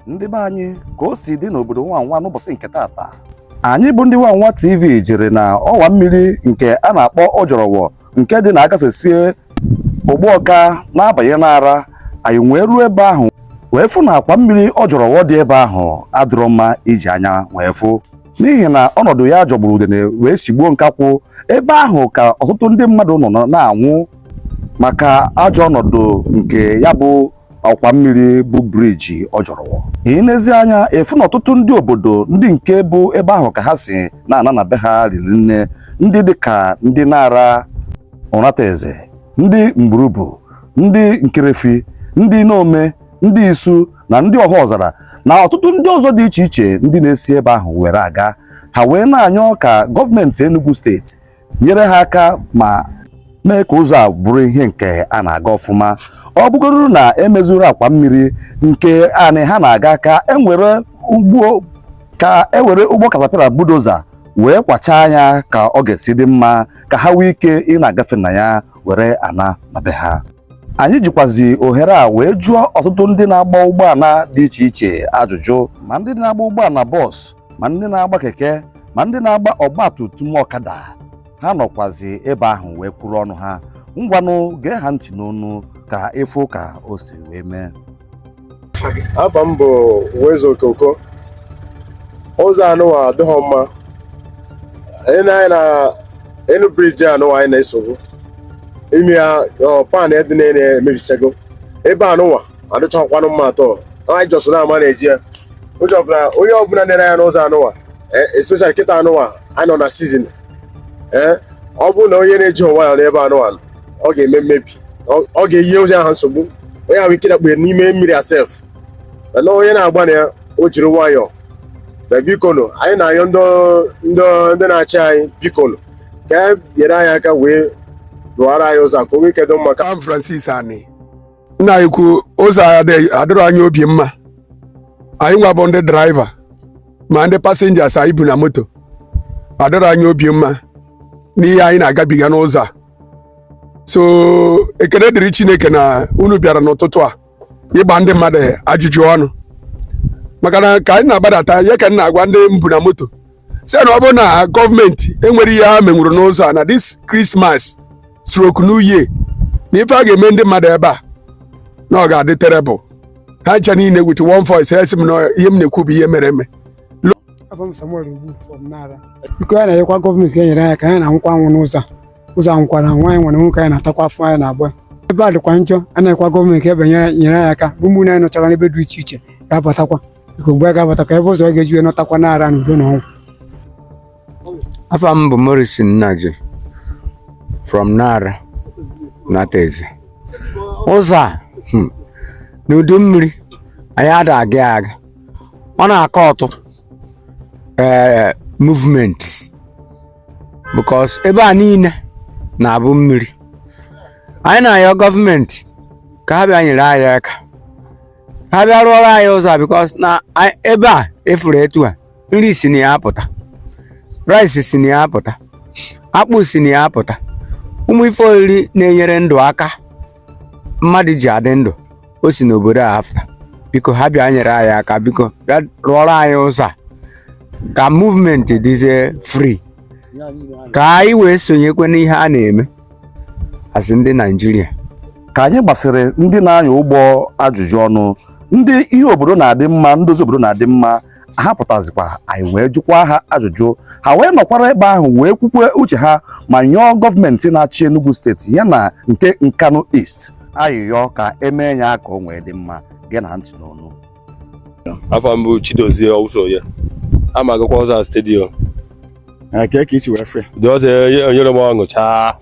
ndị be anyị ka o si dị n'obodo nwanwa n'ụbọsị nke taata anyị bụ ndị nwanwa tv jere na ọwa mmiri nke a na-akpọ ojorowo nke dị na agafesie ugbawka na-abanye nara anyị wee ruo ebe ahụ wee fụ na akwa mmiri ojorowo dị ebe ahụ adịrọ mma iji anya wee fụ n'ihi na ọnọdụ ya jọgburu udene wee sigbuo nkakwụ ebe ahụ ka ọtụtụ ndị mmadụ nọ na-anwụ maka ajọ ọnọdụ nke ya bụ akwa mmiri bụ briji ojorowo i nezi anya ị fụ na ọtụtụ ndị obodo ndị nke bụ ebe ahụ ka ha si na-ana na be ha riri nne ndị dịka ndị nara unateze ndị mgburubu ndị nkerefi ndị nomeh ndị isu na ndị ọhaọzara na ọtụtụ ndị ọzọ dị iche iche ndị na-esi ebe ahụ were aga ha wee na-ayọ ka gọọmenti Enugu steeti nyere ha aka ma mee ka ụzọ a bụrụ ihe nke a na-aga ọfụma ọ bụgodu na emezirọ akwa mmiri nke anị ha na-aga ka e were ụgbọ katapila budoza wee kwachaa ya ka ọ ga-esi dị mma ka ha nwee ike ị na-agafe na ya were ana na be ha anyị jikwazi ohere a wee jụọ ọtụtụ ndị na-agba ụgbọana dị iche iche ajụjụ ma ndị na-agba ụgbọana bọs ma ndị na-agba keke ma ndị na-agba ọgba tum tum ọkada ha nọkwazi ebe ahụ wee kwuru ọnụ ha ngwanụ gee ha ntị n'ọnụ ka ị fụ ka o si wee mee afa m bụ Wezo Okoko ụzọ anụwa adịghị mma anyị na anyị na enu briji anụwa anyị na-esogbu ime ya ọ, pan dị na emebisago ebe anụwa adịchakwanụ mma at all anyị just na-amanage ya ụzọ ọbụla onye ọbụla na-ere ya n'ụzọ anụwa eh, especially kịta anụwa anyị nọ na sizin ee ọ bụrụ na onye na-ejighi nwayọọ n'ebe anụwa ọ ga-eme mmebi ọ ga-enye onye ahụ nsogbu o nwere ike dakpue n'ime mmiri except na onye na-agba na ya o jiri nwayọọ but bikonu anyị na-ayọ ndị na-achị anyị bikonu ka e nyere anyị aka wee rụọra anyị ụzọ ka o nwee ike dị mma afa m Francis Ani nna anyị ukwu ụzọ adịrọ anyị obi mma anyị nwa bụ ndị draiva ma ndị pasenjas anyị bu na moto adịrọ anyị obi mma n'ihe anyị na-agabiga n'ụzọ a so ekele dịrị chineke na unu bịara n'ụtụtụ a ịgba ndị mmadụ ajụjụ ọnụ maka na ka anyị na-agbadata ya ka m na-agwa ndị m bu na moto sị na ọ bụrụ na gọọmenti enwerọ ihe ha menwuru n'ụzọ a na this christmas stroke new year na ife a ga-eme ndị mmadụ ebe a na ọ ga-adị terrible ha ncha niile with one voice ha sị m na ihe m na-ekwu bụ ihe mere eme afa m Samuel Ogbu from Nara biko anyị na-ayọkwa gọọmenti ya nyere anyị aka anyị na-anwụkwa anwụ n'ụzọ a ụzọ a nwụkwara anwụ anyị nwere nwoke anyị na-atakwa afọ anyị na-agba ebe a dịkwa njọ a na-ayọkwa gọọmenti ebe nyere nyere anyị aka bụ ụmụnne anyị nọchara n'ebe dị iche iche ga-abatakwa biko mgbe a ga-abata ka ebe ụzọ ọ ga-eji wee nọtakwa Nara na udo na ọṅụ afa m bụ Morrison Nnaji from Nara Unateze ụzọ a hmm, n'udu mmiri anyị ada aga ya aga ọ na-akọtụ ee movement because ebe a niile na-abụ mmiri anyị na-ayọ gọọmenti ka ha bịa nyere anyị aka ha bịa rụọrọ anyị ụzọ a because na anyị- ebe a ị fụrụ etu a nri si na ya apụta rice si na ya apụta akpụ si na ya apụta ụmụ ife oriri na-enyere ndụ aka mmadụ ji adị ndụ o si n'obodo a afụta biko ha bịa nyere anyị aka biko bịa rụọrọ anyị ụzọ a ka movement dịzie free ka anyị wee sonyekwa n'ihe a na-eme as ndị Naijiria ka anyị gbasịrị ndị na-anya ụgbọ ajụjụ ọnụ ndị ihe obodo na-adị mma ndozi obodo na-adị mma ha pụtazikwa anyị wee jụkwa ha ajụjụ ha wee nọkwara ebe ahụ wee kwukwe uche ha ma yọọ gọọmenti na-achị Enugu steeti ya na nke Nkanu East ayịyọ ka e mee ya ka o wee dị mma geenụ ntị n'onu afa m bụ Chidozie Owusoye ama agakwa ụzọ stadium nke ka isi wee fe dị ụzọ enyerọ m ọṅụ chaa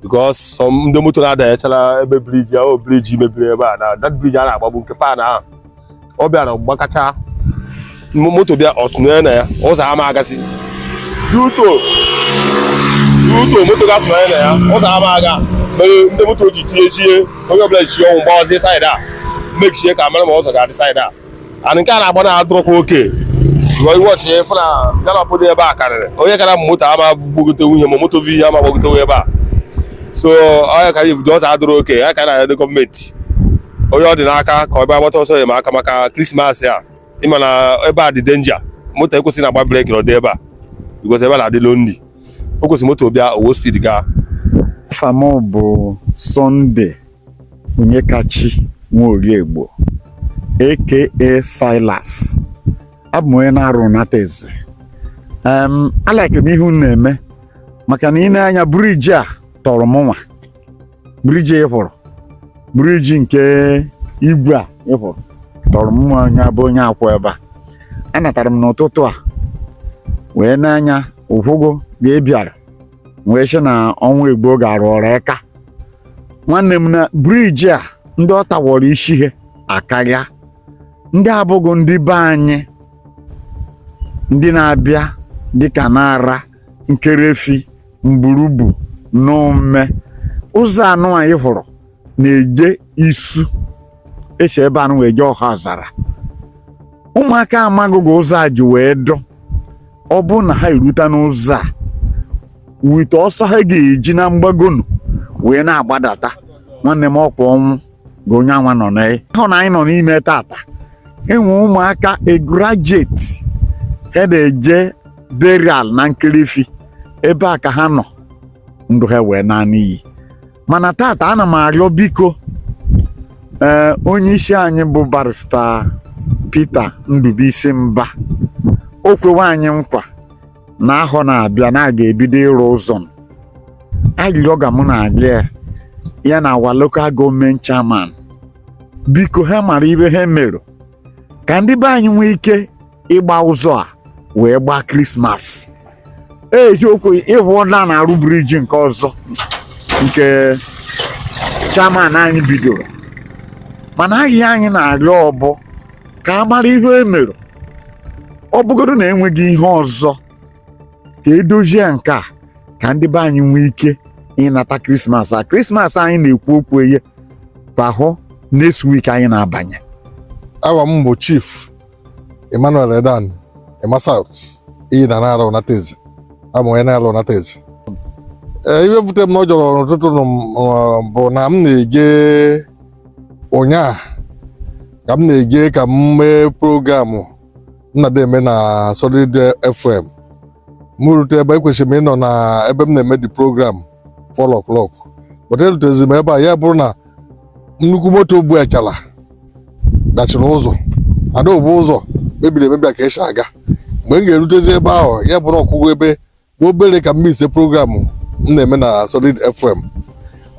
because ndị moto na-adanyechara ebe briji ahụ briji mebiri ebe a na that briji a na-agbagbu nke pan ahụ ọ bịara gbakacha moto bịa ọ tụnye na ya ụzọ ama agasị duto duto moto ga-atụnye na ya ụzọ ama aga mere ndị moto ji tiechie onye ọbụla ji ọnwụ gbawazie saịdị a mechie ka mara ma ụzọ ga-adị saịdị a ana nke a na-agba na adịrọkwa okay ị watch ị fụ na gallop dị ebe a karịrị onye kara m moto ama gbogote onye ma moto vi ama gbogote ebe a so onye kara ivudo ụzọ adịrọ okay ya ka na-adị gọọmenti onye ọ dị n'aka ka ọ bịa gbata ọsọ enyemaka maka Krismas a ị ma na ebe a dị danger moto ekwesịghị na-agba breki n'ụdị ebe a because ebe a na-adị lonely o kwesịrị moto bịa o were speed gaa afa m bụ Sunday Onyekachi Nworiegbo aka Silas abụ m onye na-arụ nata eze em a like m ihe unu na-eme maka na i nee anya briji a tọrọ m nwa briji ị hụrụ briji nke igwe a ị hụrụ tọrọ mụ nwa onye a bụ onye a kwụ ebe a anatara m n'ụtụtụ a wee n'anya ụkwụgo wee bịara wee sị na ọnwa igbo ga-arụ ọrụ aka nwanne m na briji a ndị ọ tawọrọ isi ha akarịa ndị abụghị ndị be anyị ndị na-abịa dịka Nara Nkerefi Mburubu Nomeh ụzọ anụ anyị hụrụ na-eje Isu e si ebe anụ wee jee Ọhaọzara ụmụaka amagụ ga ụzọ a ji wee dụ ọ bụrụ na ha erute n'ụzọ a wite ọsọ ha ga-eji na mgbagonu wee na-agbadata nwanne m ọkwa ọnwụ ga onye anwa nọ n'ahọ na anyị nọ n'ime tata enwe ụmụaka graduate ha na-eje burial na Nkerefi ebe a ka ha nọ ndụ ha wee naa n'iyi mana tata ana m arịọ biko ee onye isi anyị bụ barista Peter Ndubuisi Mba o kwewe anyị nkwa n'ahọ na-abịa na a ga-ebido ịrụ ụzọ m. arịrịọ ga mụ na-arịọ ya ya na our local government chairman biko ha mara ihe ha mere ka ndị be anyị nwee ike ịgba ụzọ a wee gbaa krismas eziokwu ị hụọla na-arụ briji nke ọzọ nke chairman anyị bidoro mana arịrịọ anyị na-arịọ ọ bụ ka a mara ihe e mere ọ bụgodo na enweghị ihe ọzọ ka e dozie nke a ka ndị be anyị nwee ike ịnata krismas a krismas anyị na-ekwu okwu ye kwa bụ next week anyị na-abanye awa m bụ chief emmanuel edan ema south iyi na Nara Unateze abụ m onye Nara Unateze ee ihe bute m na ọ jọrọ n'ụtụtụ nụ bụ na m na-eje ụnyaa ka m na-eje ka m mee program m na-adị eme na Solid FM m rute ebe ekwesịrị m ịnọ na ebe m na-eme the program 4 o'clock but erutezi m ebe a ya bụrụ na nnukwu moto bu achala dachiri ụzọ adaobu ụzọ mebiri emebi a ka e si aga mgbe m ga-erutezi ebe ahụ ya bụrụ ọ kụgo ebe obere ka m mesie program m na-eme na solid fm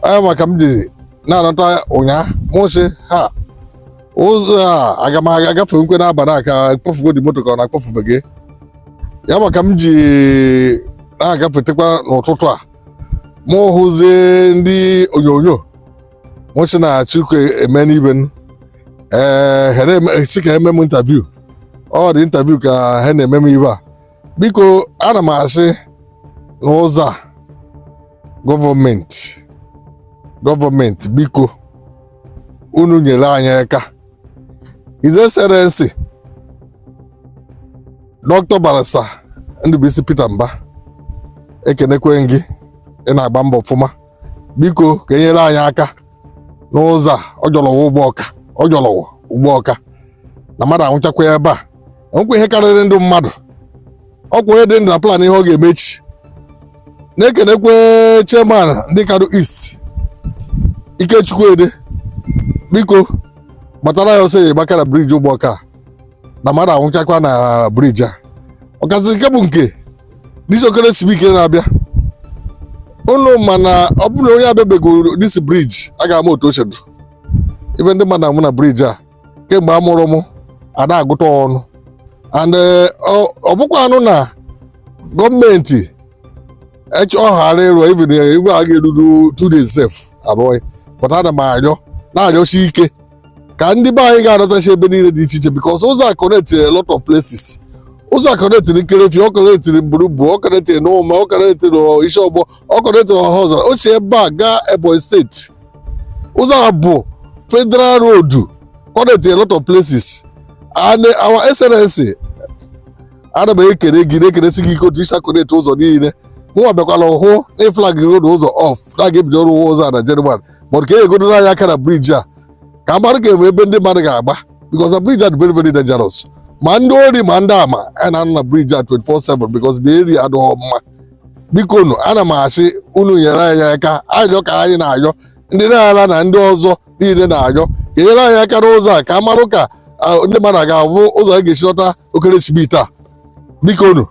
ya maka m ji na-anata ụnyaa mụ sị na ụzọ a aga m aga agafekwa n'abalị a ka a kpọfugo the moto ka ọ na akpọfubeghị ya maka m ji na-agafetekwa n'ụtụtụ a mụ hụzie ndị onyonyo mụ sị na chike eme n'ibe m ee ha na-eme- si ka e mee m interview ọ dị interview ka ha na-eme m ebe a biko ana m asị n'ụzọ a gọọmenti biko unu nyere anyị aka His Excellency Dr. Barrister Ndubuisi Peter Mbah ekenekwe gị ị na-agba mbọ ọfụma biko ka enyere anyị aka n'ụzọ a Ojorowo Ugbawka na mmadụ anwụchakwa ebe a enwekwa ihe karịrị ndụ mmadụ ọkwa onye dị ndụ na plan ihe ọ ga-eme echi na-ekenekwe chairman ndị Nkanu East Ikechukwu Edeh biko gbatara anyị ọsọ enyemaka na briji Ugbawka a na mmadụ anwụchakwa na briji a ọkazị nke bụ nke this okeresimesi na-abịa unu ma na ọ bụrụ na onye abịabegoro this briji a ga-ama otu o shi dụ ibe ndị mmadụ anwụ na briji a kemgbe a mụrụ m ada agụta ọnụ and eh, ọ- ọ bụkwanụ na gọọmenti ech- ọ ghara ịrụ even eh, igwe a ga-eruru two days sef arụọ ya but ana m arịọ na-arịọsi ike ka ndị be anyị ga-anọtachi ebe niile dị iche iche because ụzọ a connectiri a lot of places ụzọ a connectiri nkerefi ọ connectiri mburubu ọ connectiri Nomeh ọ connectiri Isiogbo ọ connectiri Ohaozara o si ebe a gaa ebonyi steeti ụzọ a bụ federal road connect a lot of places and our excellency ana m ekele gị na-ekelesi gị ike otu i si connect ụzọ niile mụnwa bịakwala hụ na ị flag road ụzọ off na a ga-ebido ọrụ ụzọ a na January but ka e nyegodo anyị aka na briji a ka a mara ga-enwe ebe ndị mmadụ ga-agba because the bridge are very very dangerous ma ndị ori ma ndị ama a na-anọ na briji a 24/7 because the area adịghị mma biko nu ana m asị unu nyere anyị aka ayọ ka anyị na-ayọ ndị Nara na ndị ọzọ niile na-ayọ ka enyere anyị aka n'ụzọ a ka a marụ ka ndị mmadụ ga-ahụ ụzọ ha ga-esi lọta okeresimesi a biko nu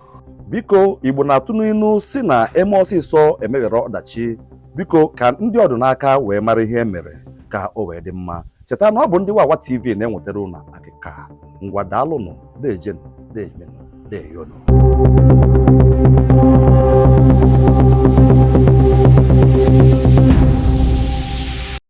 biko igbo na-atụ n'inu sị na e mee ọsịsọ e meghara ọdachi biko ka ndị ọ dụ n'aka wee mara ihe e mere ka o wee dị mma cheta na ọ bụ ndị wawa tv na-ewetara unu akịka ngwa daalụnụ dejenụ deemenụ deeyonụ